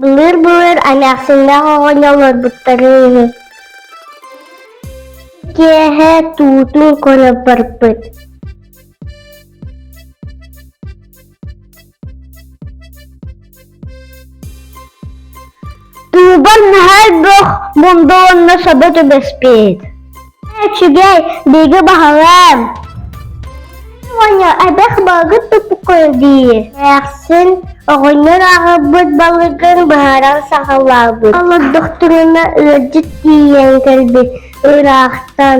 Былыр-былыр эмээхсиннээх оҕонньор олорбуттарын иһин киэһэ туутун көрө барбыт Уубар наһаа элбэх мунда уонна саба түбэспит. Үчүгэй, бигэ баһылам. Оня, эбэх балгыт тупукой дии. Эхсин, оҕонньор аҕабыт балыгын быһаран саҕалаабыт. Олордохтуруна ыалдьыт тиийэн кэлбит ыраахтан.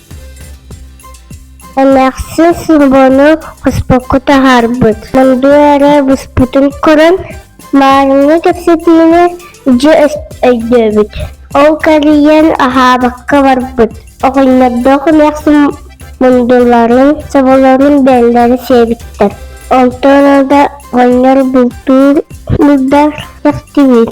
Эмээхсин сорҕону хоспокко таһаарбыт. Мындуу эрэ быспытын көрөн, маарыҥҥа кэпсэтиини дьэ өйдөөбүт. Ол кэрийэн аһаабакка барбыт. Оҕонньордоох эмээхсин мундуларын, соболорун бэллэрэ сиэбиттэр. Онтон да оҕонньор бултуур булдар тахтыбыт.